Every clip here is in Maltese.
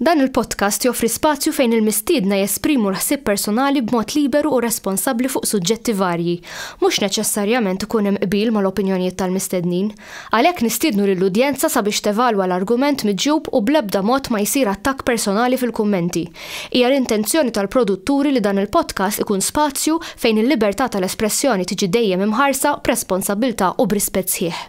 Dan il-podcast joffri spazju fejn il-mistiedna jesprimu l-ħsieb personali b'mod liberu u responsabbli fuq suġġetti varji. Mhux neċessarjament ikun hemm qbil mal-opinjonijiet tal-mistednin. Għalhekk nistiednu lill-udjenza sabiex tevalwa l-argument miġjub u bl-ebda mod ma jsir attakk personali fil-kummenti. Hija l-intenzjoni tal-produtturi li dan il-podcast ikun spazju fejn il-libertà tal-espressjoni tiġi dejjem imħarsa b'responsabbiltà u b'rispett sħiħ.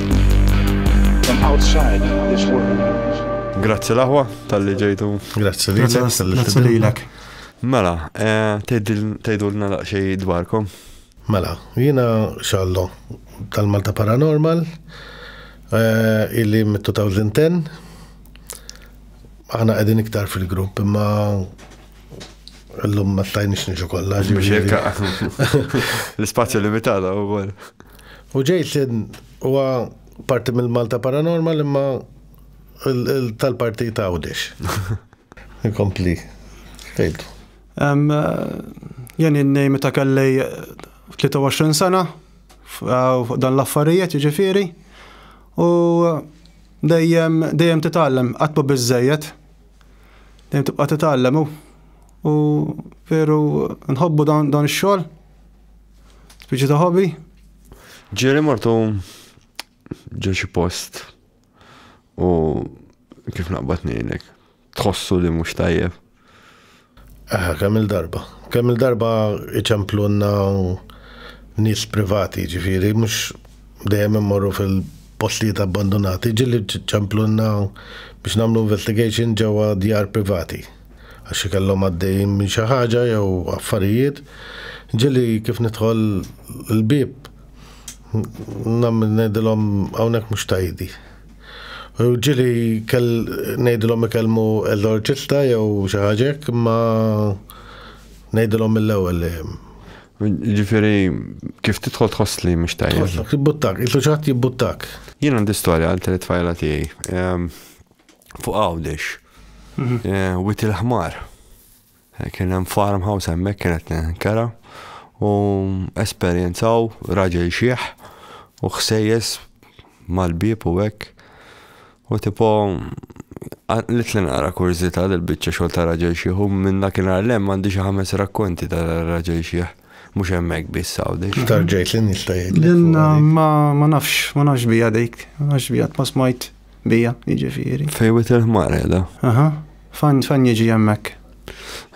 Grazzi l-aħwa tal-li ġejtu. Grazzi li Grazzi li l-ek. Mela, eh, tejdu l-na laqxej dwarkom. Mela, jina xallo tal-Malta Paranormal, eh, illi mit-2010, għana għedin iktar fil-grupp, imma l-lum ma stajnix nġu kolla. L-spazju limitata u għol. U Jason huwa parti mill-Malta Paranormal imma tal-partit Għawdex. Inkompli. Tejtu. Jeni n-nej meta kelli 23 sena dan l-affarijiet jiġifieri u dejjem dejjem titgħallem qatt biżejjed. Dejjem tibqa' titgħallem u veru nħobbu dan ix-xogħol. Spiċi ta' hobby? Ġieli mortu ġo xi post u kif naqbad ngħidlek, tħossu li mhux tajjeb. Aha, kemm il-darba. Kemm il-darba iċemplunna u nis privati, ġifiri, mhux dejjem immorru fil-postijiet abbandonati, ġieli ċemplunna biex nagħmlu investigation ġewwa djar privati. għax xi kellhom għaddejjin minn xi ħaġa jew affarijiet, ġieli kif nidħol il-bieb ngħidilhom hawnhekk mhux tajdi. U ġieli kell ngħidilhom ikellmu eżorċista jew xi ħaġa hekk imma ngħidilhom mill-ewwel li Ġifieri kif tidħol tħoss li mhux tajjeb. Jibbuttak, il-tuċat jibbuttak. Jien għandi storja għal tliet tfajla tiegħi. Ehm, fuq Għawdex. Mhm. Eh, wit il-ħmar. Eh, kien hemm farmhouse hemmhekk kienet nkara u esperjenzaw raġel xieħ u ħsejjes mal-bib u hekk. U tipo li tlen għara kurzita l-bicċa xol ta' raġel xieħ u minna kien għallem għandi xi ħames rakkonti ta' raġel xieħ mux emmek bis sawdi. Tarġajt l-nistajt. L-inna ma nafx, ma nafx bija dejk, ma nafx bija t-masmajt. Bija, jiġifieri. Fej wit il-ħmar qiegħda. Aha. Fan fan jiġi hemmhekk.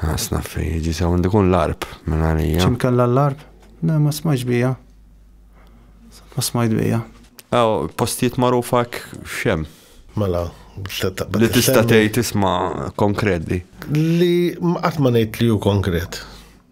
Ħasna fej jiġi sa għandu kun l-arb minn għalija. X'im kellha l-arb? Le ma smajx bija. Ma smajt bija. Aw, postijiet magħrufa x'hemm. Mela, Li tista' tgħid isma' konkret di. Li qatt ma ngħid li hu konkret.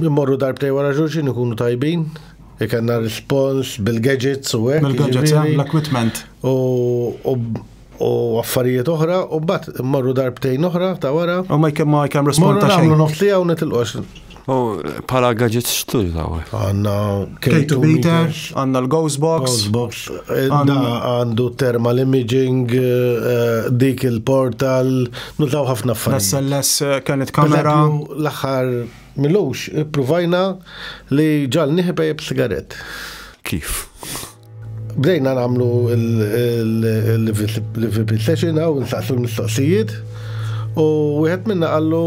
Immorru darbtej wara xulxin ikunu tajbin, ikanna respons bil-gadgets u hekk. Bil-gadgets, eh, l-equipment. U affarijiet oħra, u bat immorru darbtejn oħra ta' wara. U ma jkem ma jkem respons ta' xejn. Morru nofsija u netilqox. U pala gadgets xtuj ta' għu. Għanna K2 meter, għanna l-Ghost Box. Għandu thermal imaging, eh, dik il-portal. Nużaw ħafna affarijiet. L-SLS eh, kienet kamera. L-aħħar milux, provajna li ġal niħba jib sigaret. Kif? Bdejna namlu l-VP session għaw, nsaqsu l-mistoqsijiet, u wieħed minna għallu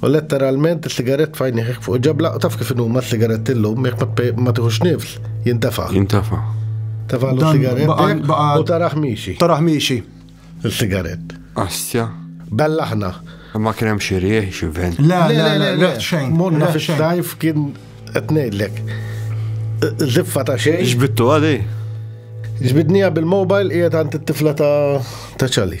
U letteralment is-sigarett f'għajnejh fuq ġabla, taf kif huma s-sigarett illum jekk ma tieħux nifs, jintafa'. Jintafa'. Tafa' l-sigarett u taraħ miexi. Taraħ miexi. Il-sigarett. Astja. Bella ħna. Ma kien hemm xi rieħ xi vent. Le, le, le, le, xejn. Monna fis-sajf kien qed ngħidlek. Ziffa ta' xejn. Ġbittu għadi. Ġbidnija bil-mobile qiegħed għand it-tifla ta' ċali.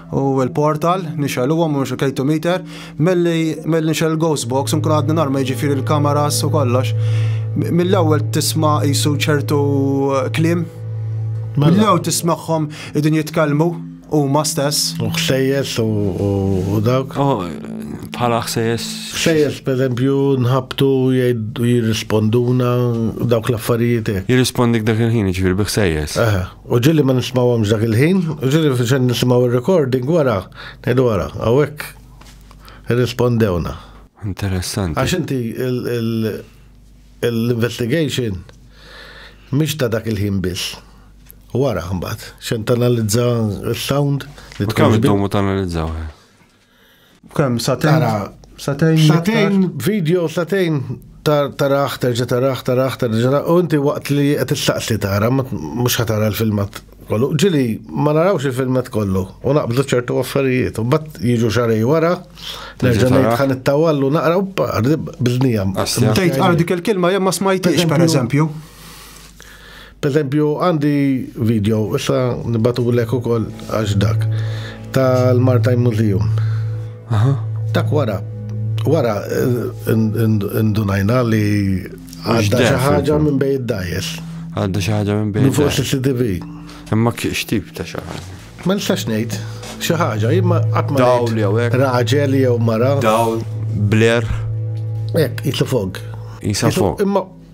u l-portal nixel huwa mhux il-K2 meter milli milli nixel il-ghost box nkun għadni norma jiġifieri l-kameras u kollox. Mill-ewwel tisma' jisu ċertu eh, klim. Mela. Mill-ewwel tismagħhom idin jitkellmu huma stess. U ħsejjes u dawk. Oh, bħala ħsejjes. Ħsejjes per eżempju nħabtu jirrisponduna dawk l-affarijiet. Jirrispondik dak il-ħin ġifieri bi ħsejjes. U ġieli ma nismawhomx dak il-ħin, u ġieli fiċen nisimgħu r-recording wara, ngħidu wara, hawnhekk irrispondewna. Interessanti. Għax inti l-investigation mhix ta' dak il-ħin biss. Wara mbagħad, xejn tanalizza s-sound li tkun. Kemm iddomu tanalizzaw? Kemm satejn? Satejn. Satejn video, satejn taraħ, terġa taraħ, taraħ, terġa u inti waqt li qed tistaqsi tara, mhux ħatara l-filmat kollu. Ġili, ma narawx il-filmat kollu, u naqbdu ċertu affarijiet, u bat jiġu xarej wara, nerġa' ngħid ħan it-tawallu naqra u biznijam. Tgħid għal dik il-kelma jemma smajtix, pereżempju. Pereżempju għandi video, issa nibgħatulek ukoll għax dak, tal-Martine Museum. Aha. Dak wara, wara ndunajna li għadda xi ħaġa minn bej id-dajes. Għadda xi ħaġa minn bej. Minn fuq CCTV. Imma x'tip ta' xi ħaġa? Ma nistax ngħid xi ħaġa, imma qatt ma Dawl jew hekk. Raġel jew mara. Dawl, bler. Hekk, jisu fog. Jisu fog. Imma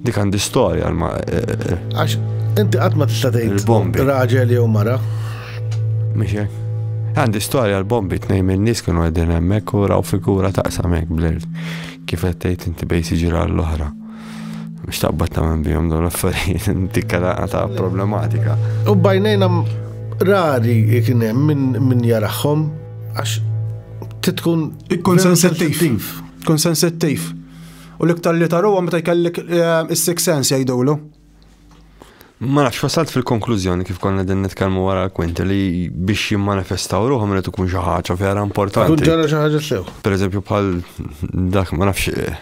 Dik għandi storja għal ma. Eh, eh, eh. Għax, inti qatt ma tista' tgħid. bombi Raġel jew mara. Mhix Għandi storja għal bombi tnejn minn nies kienu għedin hemmhekk u raw figura taqsam hekk blird. Kif qed tgħid inti bej siġira l-oħra. Mhux taqbad ta' minn bihom dawn l-affarijiet inti ta' problematika. U bajnejna rari kien hemm min jarahom għax titkun. Ikkun sensittiv. Kun sensittiv. U l-iktar li taruha meta jkellek eh, is-six sense jgħidulu. Ma nafx wasalt fil-konklużjoni kif konna din nitkellmu wara l-kwinti li biex jimmanifestaw ruħhom li tkun xi ħaġa vera importanti. Tkun ġara xi ħaġa sew. Per eżempju bħal dak ma nafx eh,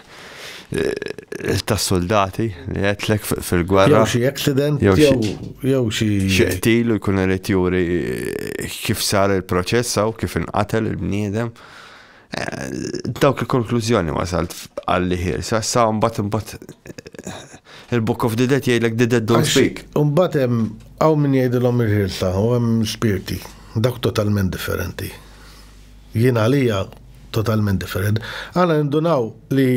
eh, ta' soldati li għetlek fil-gwerra. Jew xi accident, jew xi. Xeqtilu jkun irid juri kif sar il-proċess u kif inqatel il-bniedem. Dawk il-konklużjoni wasalt f'qalli ħielsa, sa mbagħad imbagħad il-Book of the Dead jgħidlek the dead don't speak. Imbagħad hemm hawn min jgħidilhom il-ħielsa u hemm l-ispirti. Dawk totalment differenti. Jien għalija totalment differenti. Aħna nindunaw li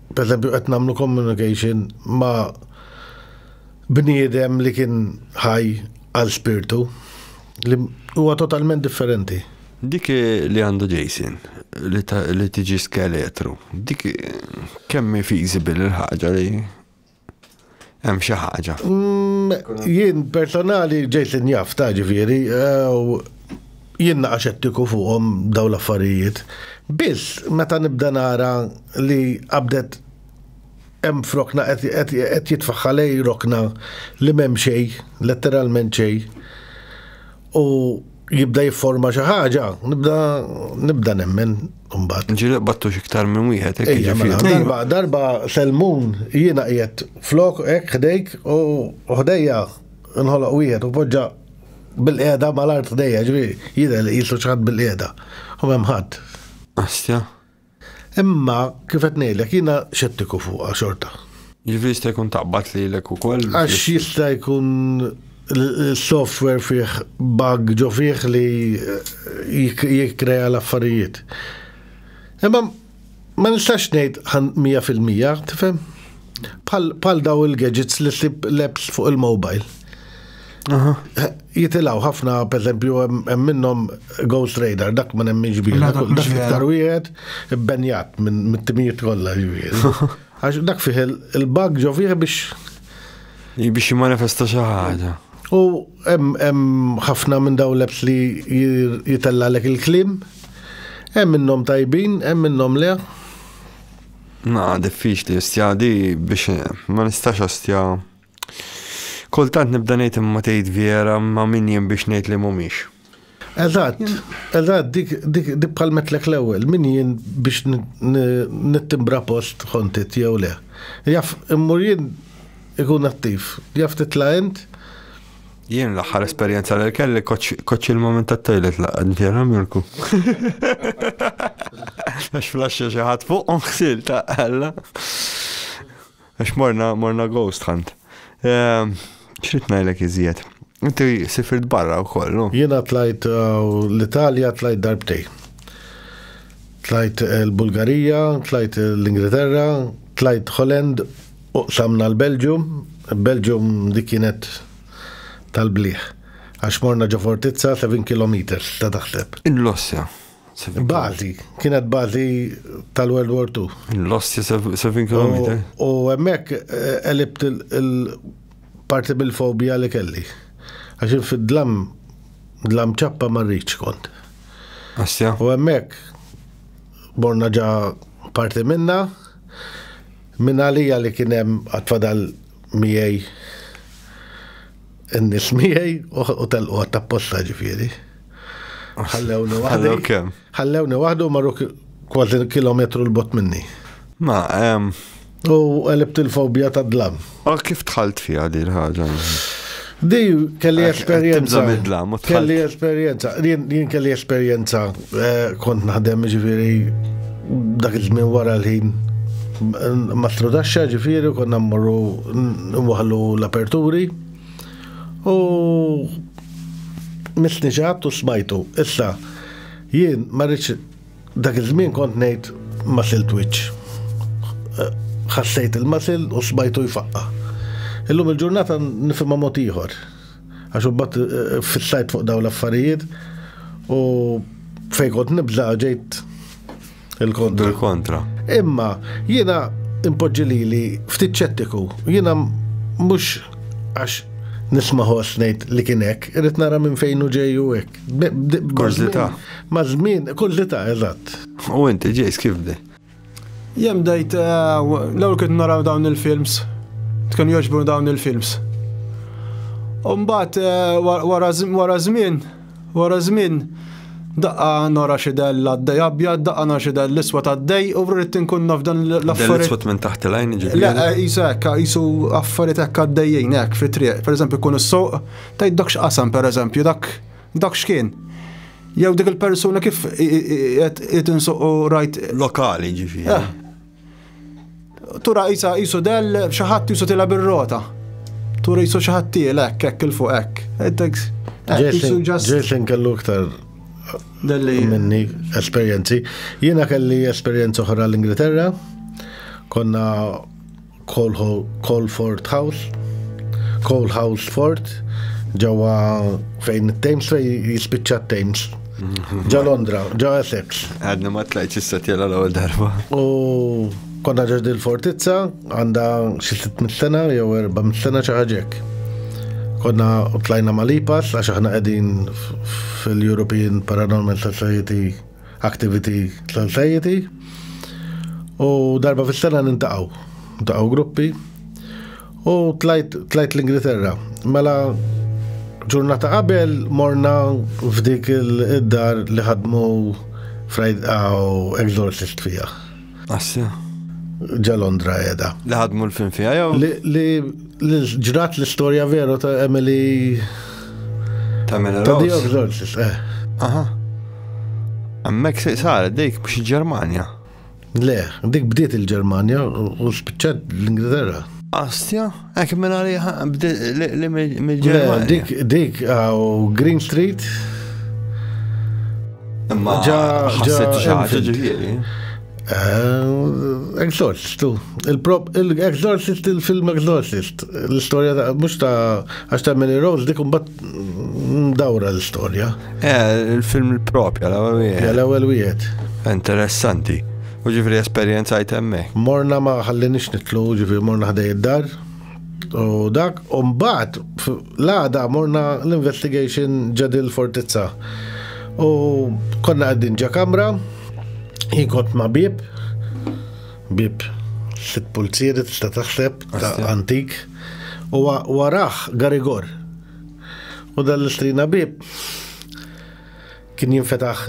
pereżempju qed nagħmlu communication ma' bniedem li kien ħaj għal spirtu li huwa totalment differenti. Dik li għandu Jason li tiġi skeletru, dik kemm feasible il-ħaġa li hemm xi ħaġa. Mm, jien personali Jason jaf ta' ġifieri, jien naqa' xettiku fuqhom dawn l-affarijiet. Biss meta nibda nara li qabdet Hemm f'rokna qed jitfaħħa lej rokna li m'hemm xejn, letteralment xejn. U jibda jifforma xi ħaġa, nibda nibda nemmen imbagħad. Ġieli battux iktar minn wieħed hekk jiġifieri. Mela, darba darba Selmun jiena qiegħed flok hekk ħdejk u ħdejja nħoloq wieħed u poġġa bil-qiegħda mal-art ħdejja ġifieri jidher li qisu x'ħadd bil-qiegħda. U hemm ħadd. Astja. Imma kif qed ngħidlek jiena xettiku fuqha xorta. Jiġifieri jista' jkun taqbad lilek ukoll. Għax jista' jkun il-software fih bug ġo fih li jikkrea l-affarijiet. Imma ma nistax ngħid 100% tifhem? Bħal daw il-gadgets li ssib l-apps fuq il-mobile. Jitilaw ħafna, per esempio, hemm minnhom Ghost Radar, dak ma nemminx bih. Dak iktar wieħed ibbenjat minn mit-timijiet kollha Għax dak fih il-bug ġo fih biex. Biex jimanifesta xi ħaġa. U hemm ħafna minn daw l-apps li jitellalek il-klim, hemm minnhom tajbin, hemm minnhom le. Ma, diffiċli, stja di biex ma nistax stja. Kultant nibda ngħid imma tgħid vera ma' min jien biex ngħid li mhumiex. Eżatt, eżatt, dik dik dik bħal metlek l-ewwel, min jien biex nittimbra post ħontit jew le. Jaf immur jien ikun attiv, jaf titla' int. Jien l-aħħar esperjenza li kelli koċ il-moment tat-toilet laqgħad vera Mirku. Għax flaxxa xi ħadd fuqhom ħsil ta' Alla. Għax morna, morna ghost hunt. Ehm, X'rid ngħidlek iżjed? Inti sifirt barra wkoll, no? Jiena tlajt eh, l-Italja tlajt darbtej. Tlajt eh, l-Bulgarija, tlajt eh, l-Ingilterra, tlajt Holland, u samna l-Belġium. Belġium dik kienet tal-bliħ. Għax morna ġo fortizza 7 km ta' taħseb. In l-ossja. Bazi, kienet bazi tal-World War II. Lost 7 km. U emmek elibt eh, il-parti bil-fobija li kelli. Għaxin fid-dlam, dlam ċappa marriċ kont. Asja. U emmek, borna ġa parti minna, minna lija li kienem għatfadal miej n-nis miegħi u telqu għatta posta ġifieri. Ħallewni waħdi. Ħallewni waħdu marru kważi kilometru l-bot minni. Ma, ehm. U għalibt il-fobija ta' dlam. U kif tħalt fija di l-ħagġa? Di kelli esperienza. Kelli esperienza. Jien kelli esperienza Eh, kont naħdem ġifiri dak iż-żmien wara l-ħin ma strudaxxa ġifiri konna mmorru nwaħlu l-aperturi u misniġat u smajtu. Issa, jien ma rridx dak iż-żmien kont ngħid masil twitch. Eh, ħassejt il-masil u smajtu jfaqqa. Illum il-ġurnata nifhimha mod ieħor. Għax ubbat eh, eh, fissajt fuq daw l-affarijiet u fej kont nibza ġejt il-kontra. Il-kontra. Imma jiena impoġġi li li ftit ċettiku, jiena mhux għax nisma ħoss ngħid li kien hekk, irid nara minn fejn u ġej u hekk. Kurzita. Ma' żmien, kurzita, eżatt. U inti ġejs kif bdej? Jem dajt, eh, l-ewwel kien naraw dawn il-films, tkun joġbu dawn il-films. Umbat eh, wara żmien, wara żmien, daqqa nora xidel l-għaddej abjad, daqqa nora xidel l-iswa ta' dej u rrit tinkun naf dan l-affarijiet. L-iswa minn taħt l-għajn ġibri. Le, eh, jisu ekka, jisu affarijiet ekka d-dejjien ek fi triq. Per eżempju, kun s-soq, tajdokx qasam per eżempju, dak Dak x'kien? Jew dik il-persuna kif qed insuqu rajt. Lokali ġifieri. Eh. Tura isa isu del xi ħadd isu tilha bir-rota. Tura isu xi ħadd tielek hekk il fuq hekk. Jason kellu iktar Dalli. Minni esperienzi. Jiena kelli esperienza oħra l-Ingilterra. Konna Colford House, Cole House Fort, ġewwa fejn it-Thames fej jispiċċa t-Thames. Ġa Londra, ġa Essex. Għadni ma tlajċ issa tjela l-ewwel darba. U konna ġeġ il-fortizza għandha xi 600 sena jew 400 sena xi ħaġek. Konna tlajna malipas għax aħna qegħdin fil-European Paranormal Society Activity Society u darba fis-sena nintaqgħu. Ntaqgħu gruppi u tlajt, tlajt l-Ingilterra. Mela ġurnata qabel morna f'dik il-dar li ħadmu Friday Exorcist fija. Assi. Ġa Londra edha. Li ħadmu l-film fija jew? Li ġrat l-istorja veru ta' Emily. Ta' Emily Rose. Ta' eh. Aha. Għammek se saret dik biex il-Ġermanja. Le, dik bdiet il-Ġermanja u spiċċat l-Ingilterra. Astja, Għak minn għaliħa, li mil-ġermani. Dik, dik, għaw Green Street. Imma ġa ħasset ġaġa ġifieri. Eh, Exorcist, tu. Il-Exorcist, il-film Exorcist. L-istoria ta' mux ta' għax ta' Mary Rose, dik un bat Mdawra l-istorja. Eh, il-film il-propja, l-ewwel wieħed. L-ewwel wieħed. Interessanti. U ġifri esperjenza jtemme. Morna ma ħallinix nitlu, ġifri morna ħdej id-dar. U dak, u mbagħad l-għada morna l-investigation ġadil fortizza. U konna għaddin ġa kamra, jinkot ma bib, Bib, sitt pulzieri tista' taħseb ta' antik. U waraħ Garigor. U dan l-istrina bib kien jinfetaħ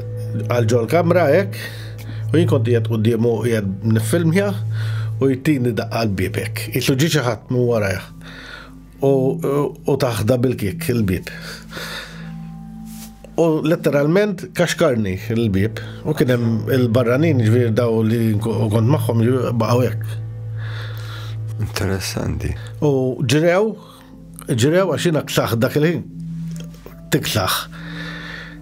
għal ġol kamra hekk u jien kont qiegħed quddiemu qiegħed nifilmja u jtini daqqa l-bibek. Isu ġi xi ħadd minn warajh. U taħda bil-kik il-bib. U letteralment kaxkarni il-bib u kien hemm il-barranin ġvir daw li kont magħhom baqgħu hekk. Interessanti. U ġrew, ġrew għax jiena ksaħ dak il-ħin. Tiksaħ.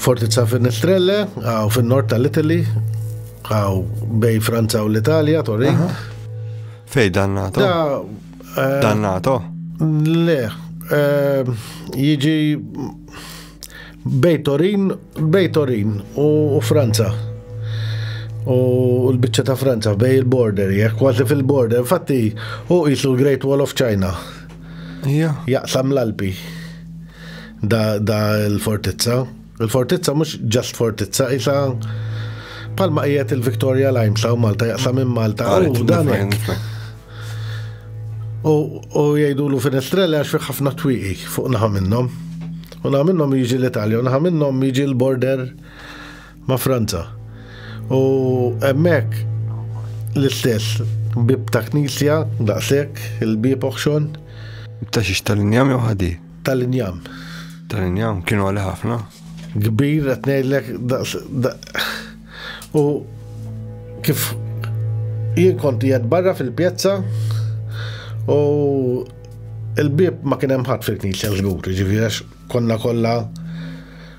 Fortizza Finistrelle, għaw fin-nord tal-Italy, għaw bej Franza u l-Italja, Torin. Fej dannato? Eh, dannato? Le, eh, jiġi bej Torin, bej Torin u Franza. U l-bicċa ta' Franza bej il-border, jek kważi fil-border, infatti u jisu l-Great Wall of China. Jaqsam l-Alpi. Da, da l-fortizza. Il-fortizza mhux ġast fortizza, isa palma qiegħed il-Victoria Limes u Malta jaqsam minn Malta. Ah, u dan U jgħidu l finestrella għax fi ħafna twiqi fuq naħa minnhom. U naħa minnhom jiġi l-Italja, u naħa minnhom jiġi l-border ma' Franza. U emmek l-istess bib ta' knisja, daqsek, il-bib oħxon. Ta' xiex tal-injam jew ħadi? Tal-injam. Tal-injam kienu għalli ħafna. Kbir qed ngħidlek u kif jien kont jgħed barra fil-pjazza u il-bib ma kien hemm ħadd fil-knisja żgur, ġifieri konna kollha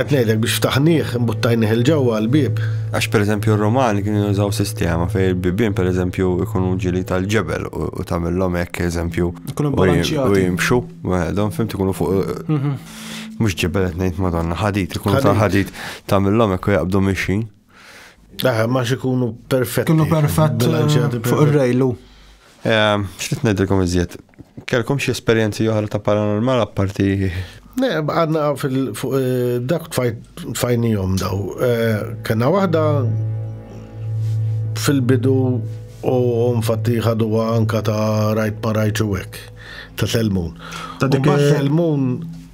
Qed ngħidlek biex ftaħnieh imbuttajnih il ġewwa l-bieb. Għax pereżempju r-Romani kienu jużaw sistema fejn il-bibien pereżempju jkunu ġili tal-ġebel u tagħmilhom hekk eżempju u jimxu waħedhom fimt ikunu fuq mhm. mhux ġebel qed ngħid madonna ħadit ikunu ta' ħadit tagħmilhom hekk u jaqbdu mixin. Aha, ma xikunu perfetti. Kunu perfett eh, fuq il-rejlu. Eh, Xrit nedilkom iżjed. Kelkom xie esperienzi oħra ta' paranormal apparti. Ne, għadna fuq eh, dak tfajnijom daw. Kena wahda fil-bidu u nfatti ħadu anka ta' rajt ma rajt u Ta' Selmun. Ta' dik Selmun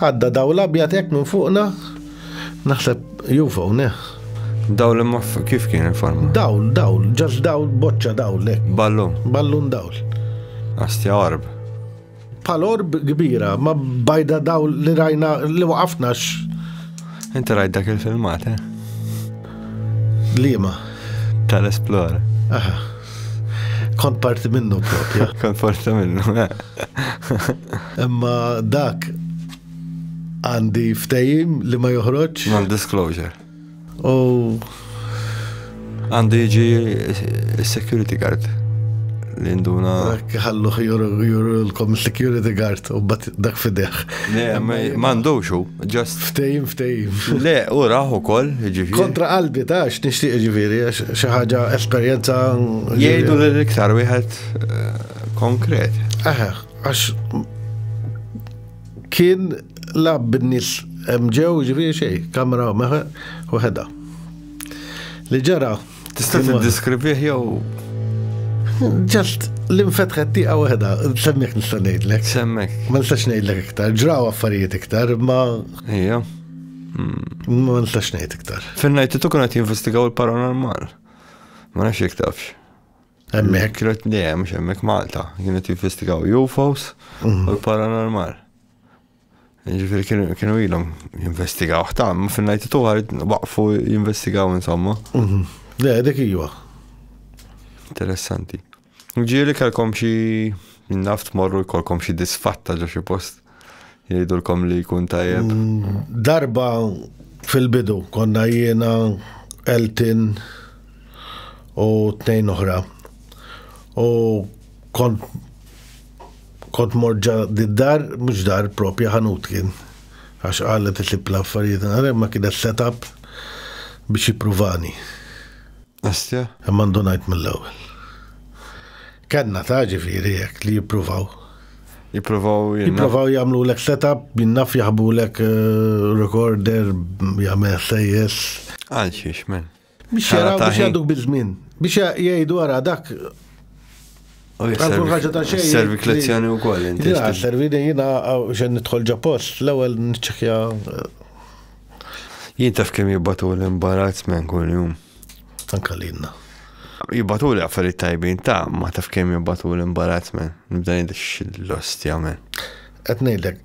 Għadda dawl abjad hekk minn fuqna, naħseb UFO, neh. Dawl imma kif kien informa? Dawl, dawl, ġax dawl, boċċa dawl, le. Ballun. Ballun dawl. Astja orb. Pal orb kbira, ma bajda dawl li rajna li waqafnax. Inti rajt dak il-filmat, eh? Lima. Tal-esplora. Aha. Kont parti minnu propju. Kont parti minnu. Eh. Imma dak għandi ftejim li ma joħroġ. Non-disclosure. U. Għandi ġi security guard li nduna. Għallu juru l-kom security guard u bat dak fideħ. Mandux u. Just. Ftejim, ftejim. Le, u raħ u koll, ġifiri. Kontra qalbi ta' x'nixtieq ġifiri, xaħġa esperjenza. Jgħidu li l-iktar wieħed eh, konkret. Eħe, għax kien lab bin-nis mġew ġifiri xej, kamra meħe u ħeda. Li ġara, Tista' tiddeskrivih jew Ġast l-infetħet tiqa waħda, semmek nista' ngħidlek. Semmek. Ma nistax ngħidlek iktar, ġraw affarijiet iktar, ma. Ija. Ma nistax ngħid iktar. Fin-najt tu kienet jinvestigaw il-paranormal. Ma nafx jek tafx. Hemmhekk. Kienet dejjem x'hemmhekk Malta, kienet jinvestigaw UFOs u mhm. l-paranormal. Ġifiri kienu ilhom jinvestigaw ħtam, fin-najti tuħar waqfu jinvestigaw insomma. Mhm. Le, dik iwa. Interessanti. Ġieli kalkom xi naft morru jkollkom xi disfatta ġo xi post jgħidulkom li jkun tajjeb. Mm, darba fil-bidu konna jiena Elton u tnejn oħra. U kont Kont mort ġa d-dar, mhux dar propja ħanut kien. Għax qalet itlib l-affarijiet nara imma kienet set up biex jippruvani. Asja? Imma ndunajt mill-ewwel. Kellna ta' ġifieri hekk li jippruvaw. Jippruvaw jinna. Jippruvaw jagħmlulek set up, jinnaf jaħbulek eh, recorder, jagħmel sejjes. Għal xiex men? Biex jaraw biex jgħaduk bil-żmien. Biex jgħidu għara dak. Għalkun ħagġa ta' xejn. Servi klezzjoni u koll. Jina, servi din jina xen nitħol ġa post, l-ewel nċekja. Jien taf kem jibbatu l-imbarazz men kull jum. Anka li jina. Jibbatu li għaffariet tajbin ta' ma taf kem jibbatu l-imbarazz men. Nibda jidix l-ostja men. Etnejdek,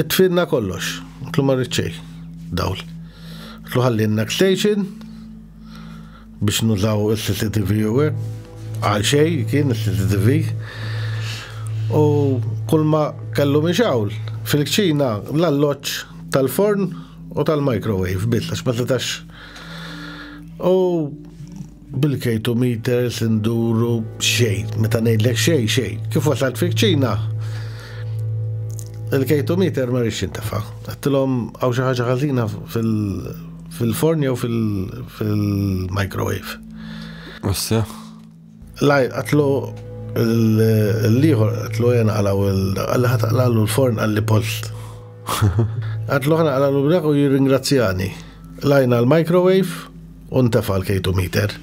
Itfinna kollox. Tlu ma rrid xejn. Dawl. Tlu ħallinna station biex nużaw il-CCTV u hekk. Għal xej kien il-CCTV. U kull ma kellu minn xawl fil-kċina l-alloċ tal-forn u tal-microwave biss għax ma setax. U Bil-kejtu meters induru xejn, meta ngħidlek xejn xejn. Kif wasalt fik ċina? Il-kejtu meter ma rix jintafa. Għattilhom għaw xi ħaġa ħażina fil-forn jew fil-microwave. Issa? Laj, għatlu l-liħor, għatlu jena għalaw għalli ħat għalalu l-forn għalli post. Għatlu ħana għalalu b'dak u jirringrazzjani. Lajna l-microwave, u ntefa' l-kejtu miter.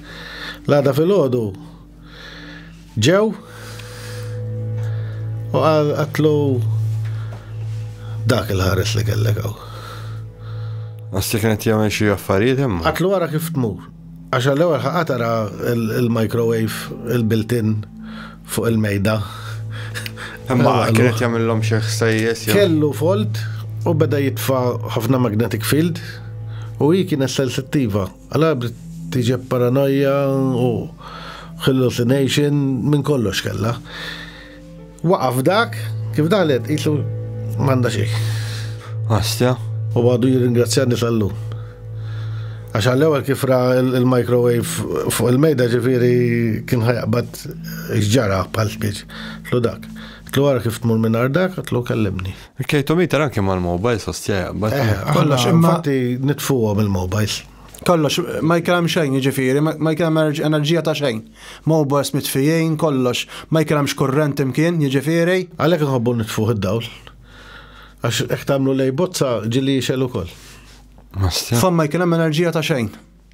L-għada filgħodu ġew u għatlu dak il-ħares li kellek għaw. Għasli kienet jgħamil xie affarijiet imma. Għatlu għara kif tmur. Għaxa l-ewel ħaqatara il-microwave, il-built-in, Fuq il-mejda. Imma kienet jagħmilhom xi ħsejjes. Kellu folt u beda jitfa' ħafna magnetic field u hi kienet sensittiva. Għala tiġeb paranoja u hallucination minn kollox kella. Waqaf dak, kif dalet, jisu manda xej. Għastja. U għadu jirringrazzjani tal-lum. Għax għall-ewwel kif ra il-microwave fuq il-mejda ġifieri kien ħajqbad x'ġara bħal spiċ. Tlu dak. Tlu għara kif tmur minn ardak, tlu kellimni. Il-kejtomiter anke mal-mobile sostja jaqbad. Eh, kollox imma nitfuhom il-mobiles. Kollox, ma jkellem xejn ġifieri, ma jkellem enerġija ta' xejn. Mobiles mitfijin, kollox, ma jkellemx kurrent imkien ġifieri. Għalhekk nħobbu nitfuh id-dawl. Għax hekk tagħmlu lej bozza ġili jixel ukoll. Famma jkien hemm enerġija ta' xejn.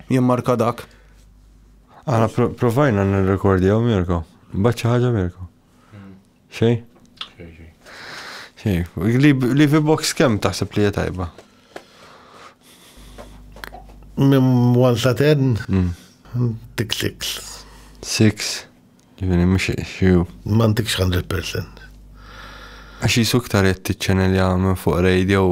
Jien marka dak. Għana provajna n-rekordi għaw Mirko. Baċċa ħagġa Mirko. Xej? Xej. Li fi box kem taħseb li tajba? Mim 1 sa 10? Tik 6. 6? Ġifieri mhux xi. M'għandekx 100%. Għax jisu iktar qed tiċċenelja minn fuq radio.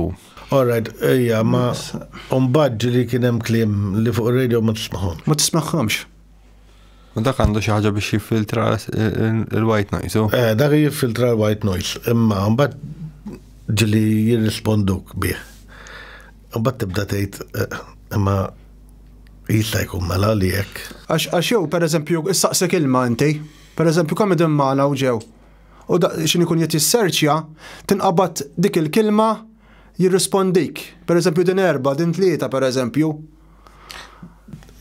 Alright, ejja, ma mbagħad ġieli kien hemm kliem li fuq radio ma tismagħhom. Ma tismagħhomx. U dak għandu xi ħaġa biex jiffiltra l-white noise. Eh, dak jiffiltra l-white noise, imma mbagħad ġieli jirrisponduk bih. Imbagħad tibda tgħid imma jista' jkun mela li hekk. Għax għax jew pereżempju issaqsek ilma inti, pereżempju kemm idem magħna u ġew. U x'in ikun qed jisserċja, tinqabad dik il-kilma jirrispondik. Pereżempju din erba', din tlieta pereżempju.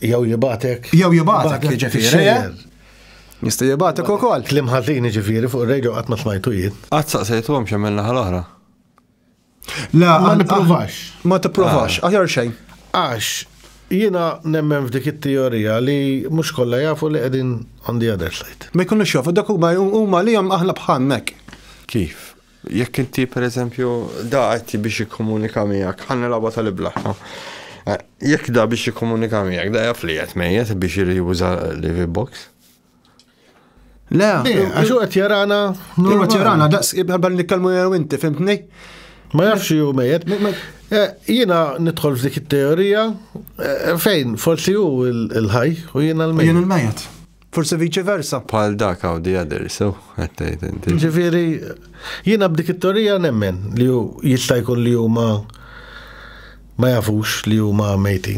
Jew jibgħatek. Jew jibgħatek jiġifieri. Jista' jibgħatek ukoll. Klim ħażin jiġifieri fuq ir-radio qatt ma smajtu jien. Qatt saqsejthom x'għamilna ħal oħra. La, ma nipprovax. Ma tipprovax, ah. aħjar xejn. Għax, jina nemmen f'dik it-teorija li mhux kollha jafu li qegħdin on the other side. Ma jkunux jafu, dak huma huma li hemm aħna bħannek. Kif? Jekk inti pereżempju da qed biex jikkomunika miegħek, ħanna laba tal-ibla. Eh, jekk da biex jikkomunika miegħek, da jaf li qed mejjet biex juża l-box. Le, għax u għet jarana. U għet jarana, daqs, għabba nikkalmu jew inti, fimtni? Ma jafx ju mejet. Eh, jina nidħol f'dik it-teorija eh, fejn forsi hu il-ħaj u jina l-mejet. Jina l-mejet. Forse vice versa. Pal dak għaw di għadir, so, għattajt inti. Ġifiri, jina b'dik it-teorija nemmen li ju jistajkun li ju ma ma jafux li ju ma mejti.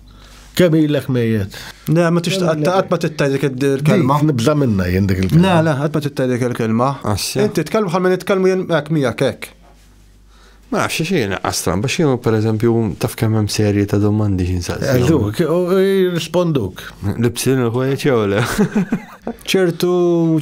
Kemm ilek mejjet? Le, ma tix qatt ma tittaj dik il-kelma. Nibża minna jien dik il-kelma. Le, le, qatt ma tittaj dik il-kelma. Inti tkellmu bħal minn itkellmu jien hekk miegħek hekk. Ma nafx xi jien qastran, biex jien pereżempju taf kemm hemm serji ta' domandi xi nsaqsi. Alluk, jirrisponduk. Libsin il-ħwejġ jew le. ċertu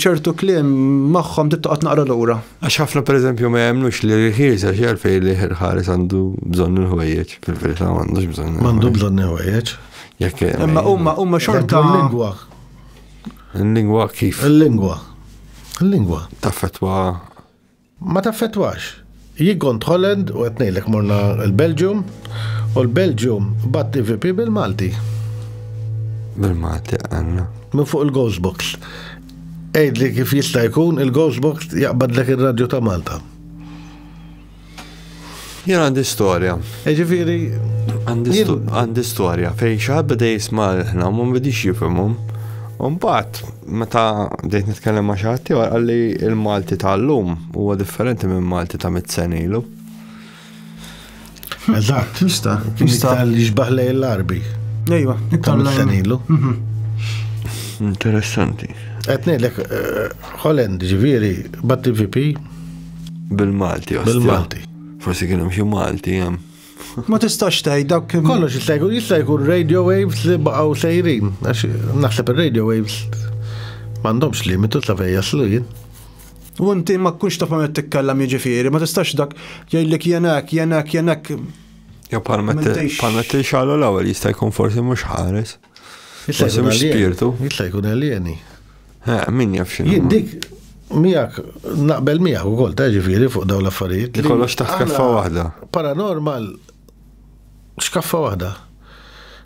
ċertu kliem magħhom tittoqgħod naqra lura. Għax ħafna pereżempju ma jemnux li rħies għax jarfej li ħares għandu bżonn il-ħwejjeġ, fil-verità m'għandux bżonn. M'għandu bżonn il-ħwejjeġ. Jekk Imma huma huma xorta l-lingwa. Il-lingwa kif? Il-lingwa. Il-lingwa. Taffetwa. Ma taffetwax. Jien kont Holland u qed ngħidlek morna l-Belġium u l-Belġium bat IVP bil-Malti. Bil-Malti għandna. Minn fuq il-Ghostbox. Għidli kif jista' jkun il-Ghost Box jaqbadlek ir-radju ta' Malta. Jien għandi storja. E ġifieri. Għandi storja fej xaħat beda jisma' ħna ma bidix jifhimhom. Umbat, meta bdejt nitkellem ma' xaħat tiegħu għalli il-Malti tal-lum huwa differenti minn Malti ta' mit-senilu. Eżatt. Jista. Jista. Li xbaħ lej l-arbi. Ejwa. Tal-senilu. Mhm. Interessanti. Għetnejlek, eh, Holland ġiviri, bat VP. Bil-Malti, Bil-Malti. Forsi kienem xie Malti, jem. Ma tistax taj, dak kif. Kollox jista' jkun jista' jkun radio waves li baqgħu sejrin. Għax naħseb ir-radio waves m'għandhomx limitu ta' fejn jaslu jien. U inti ma tkunx taf ma titkellem jiġifieri, ma tistax dak jgħidlek jenek, jenek, jenek. Jew bħal metti xalu l-ewwel jista' jkun forsi mhux ħares. Forsi mhux spirtu. Jista' jkun alieni. Min jaf xi. Jien dik miegħek naqbel miegħek ukoll ta' ġifieri fuq dawn l-affarijiet. Li kollox taħt kaffa waħda. Paranormal x'kaffa waħda.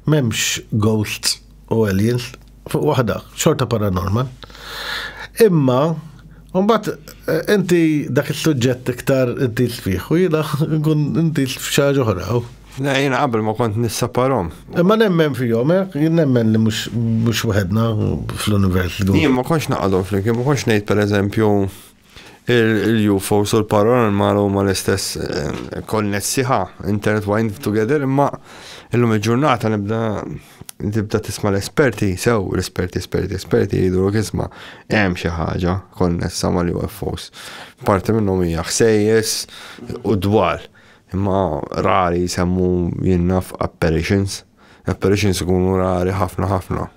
M'hemmx ghosts u aliens. Fuq waħda, xorta paranormal. Imma, Umbat, eh, inti dak il-sujġett iktar inti l-fiħ, u jina nkun inti l-fxaġ oħra. Na, jina qabel ma kont nissaparom. Imma nemmen fihom, eh? jien nemmen li mhux waħedna fl-univers. Jien ma konx naqadhom flimkien, ma konx ngħid pereżempju Il-UFOs u l-paranormal huma l-istess eh, konnessi ħa, intertwined together, imma illum il-ġurnata nibda tibda tisma l-esperti, sew l-esperti, esperti, esperti jidru kisma hemm xi ħaġa konnessa mal-UFOs. Parti minnhom hija ħsejjes u dwal, imma rari jsemmu jinnaf apparitions. Apparitions ikunu rari ħafna ħafna.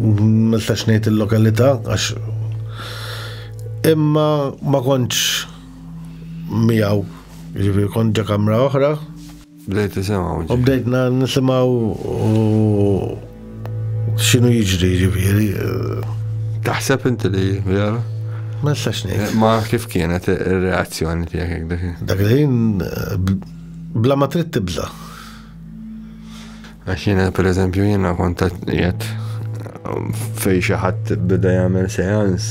Miltax ngħid il-lokalità għax imma ma kontx miegħu. Ġifieri kont ġa kamra oħra. Bdejt nisimgħu. U bdejt nisimgħu x'inhu jiġri ġifieri. Taħseb inti li vera? Ma nistax ngħid. Eh, ma kif kienet ir-reazzjoni tiegħek dak? Dak li eh, bla ma trid tibża'. Għax jiena per eżempju jiena kont qed fej xi ħadd bida jagħmel seans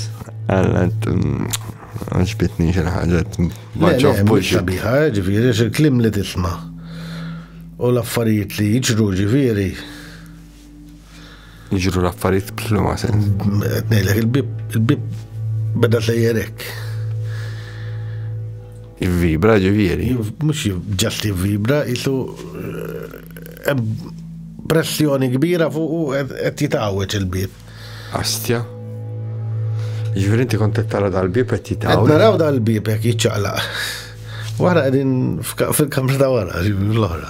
għallet mm, għax bitni xi ħaġa ma ġobbux. Biħa ġifieri xi klim li tisma' u l-affarijiet li jiġru ġifieri Jiġru l-affarijiet b'liema sens. Ngħidlek il-bib il-bib beda sejjerek. Vibra ġifieri. Mhux ġast vibra jisu eh, pressjoni kbira fuq u qed jitgħawweġ il-bib. Astja. Ġifieri inti kont qed tara dal-bib qed jitgħawweġ. Qed naraw dal-bib jekk jiċċaqlaq. Wara qegħdin fil-kamra ta' wara, l-oħra.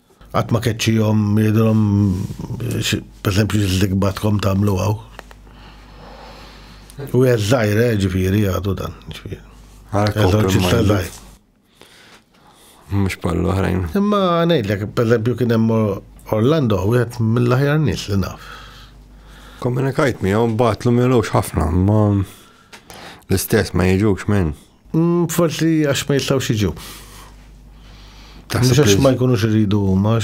Qatt ma keċċihom jgħidulhom pereżempju x'żigbatkom tagħmlu hawn. U hija żgħira eh, ġifieri għadu dan, ġifieri. Eżorċista żgħir. Mhux bħal oħrajn. Imma ngħidlek, pereżempju kien hemm Orlando wieħed mill-aħjar nies li naf. Komunikajt miegħu mbagħatlu milux ħafna, ma l-istess ma jiġux minn. Mm, forsi għax ma jistgħux jiġu. Mhux għax ma jkunux iridu huma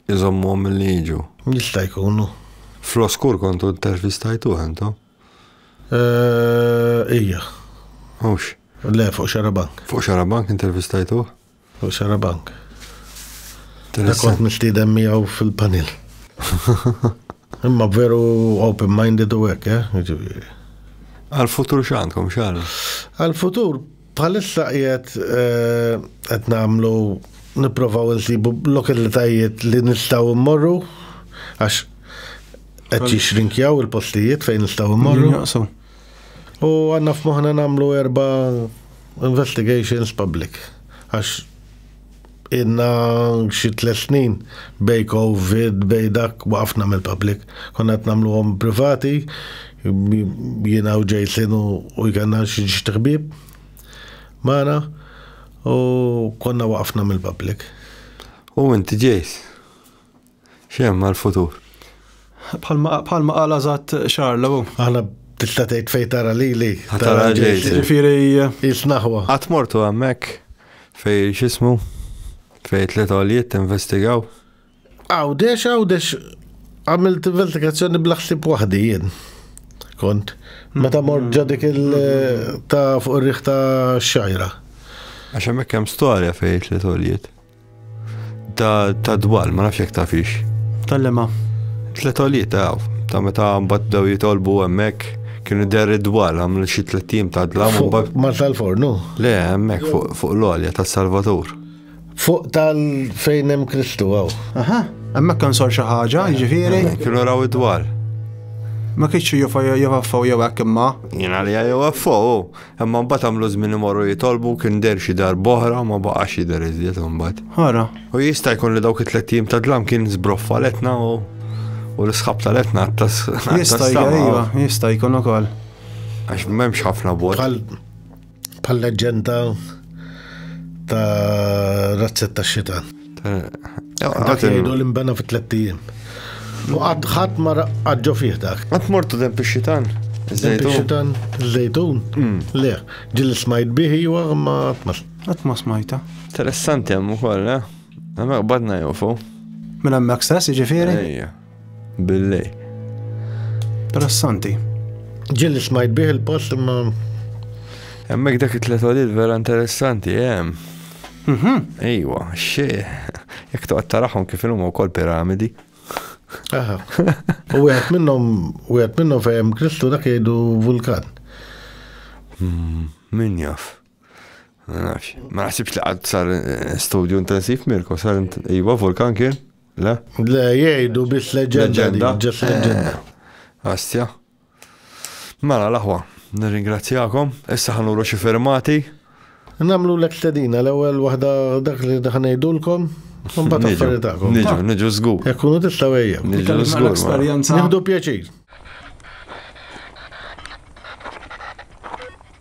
iżommhom li jiġu. Jista' jkunu. Fl-oskur kontu intervistajtu għandu? Eh, ija. Mhux. Le, fuq xarabank. Fuq xarabank intervistajtu? U xara bank. Dak kont mistieden miegħu fil-panil. Imma veru open-minded u hekk, eh? Jiġifieri. Għal-futur x'għandkom xara? Għal-futur bħalissa qiegħed eh, qed nagħmlu nipprovaw insibu lokalitajiet li nistgħu mmorru għax qed jixrinkjaw il-postijiet fejn nistgħu mmorru. Naqsu. U għanna f'moħna namlu erba investigations public. Għax inna xi tles snin bej covid, bej dak waqafna mill-public. Konna qed nagħmluhom privati, jiena u Jason u jkanna xi ġtiħbib magħna u konna waqafna mill-public. U inti Jace? Xi hemm għall-futur? Bħalma qal għażat Charles u. Aħna tista' tgħid fejn tara lili. Tara ġejt. Ġifieri. Jisnaħwa. Qatt mortu hemmhekk fejn x'ismu fejn tliet għoljiet tinvestigaw? Għawdex, għawdex għamilt investigazzjoni bl-ħsib waħdi jien. Kont. Meta mort ġa dik il ta' fuq ir-riħ ta' xajra. Għax hemmhekk hemm storja fejn tliet għoljiet. Ta' ta' dwal, ma nafx jekk tafix. Tal-lema. Tlet għoliet ta' ta' meta mbagħad daw jitolbu hemmhekk kienu der id-dwal għamlu xi tliet tim ta' dlam u mbagħad. Mar tal-fornu? Le, hemmhekk fuq l-għolja tas-Salvatur. Fuq tal fejn hemm Kristu hawn. Aha, hemmhekk kan sar xi ħaġa, jiġifieri. Kienu raw id-dwal. Ma kienx jofaffaw jew hekk imma. Jien għalija jofaffaw. Imma mbagħad għamlu żmien imorru jitolbu kien der xi darb'oħra ma baqax jidher iżjed imbagħad. Ħara. U jista' jkun li dawk it-tliet jiem ta' dlam kien żbroffa l-etna u u l-isħab tal-etna għattas. Jista' iva, jista' jkun ukoll. Għax m'hemmx ħafna bot. Pal leġenda ta' razzetta xita. Dak jgħidu li mbena fi tliet ijiem. U qatt ħadd ma qaġġo fih dak. Qatt mortu dem pixxitan? Pixxitan, żejtun? Mm. Le, ġil smajt bih iwa ma tmas. Qatt ma smajta. Interessanti hemm ukoll, eh? Hemmhekk badna jofu. Minn hemmhekk stess, jiġifieri? Ejja. Billej. Interessanti. Ġilli smajt bih il-post imma. Hemmhekk dak it-tlet għalil vera interessanti, hemm. Eh? Mhm. Ejwa, xi. Jekk toqgħod taraħhom kif ilhom wkoll piramidi. Aha. U wieħed minnhom wieħed minnhom fejn Kristu dak jgħidu vulkan. Hmm, min jaf. Ma naħsibx li għad sar eh, studju intensiv Mirko, sar iwa vulkan kien? Le? Le, jgħidu biss leġenda. Ġes leġenda. Eh, Astja. Mela l-aħwa, nirringrazzjakom, issa ħanuru xi fermati. Namlu l-ek stedina, l-ewel wahda dak li daħnejdulkom, Mbagħad affaritakom. Niġu, niġu żgur. Jekk kunu tista' wejja. Niġu żgur. Nieħdu pjaċir.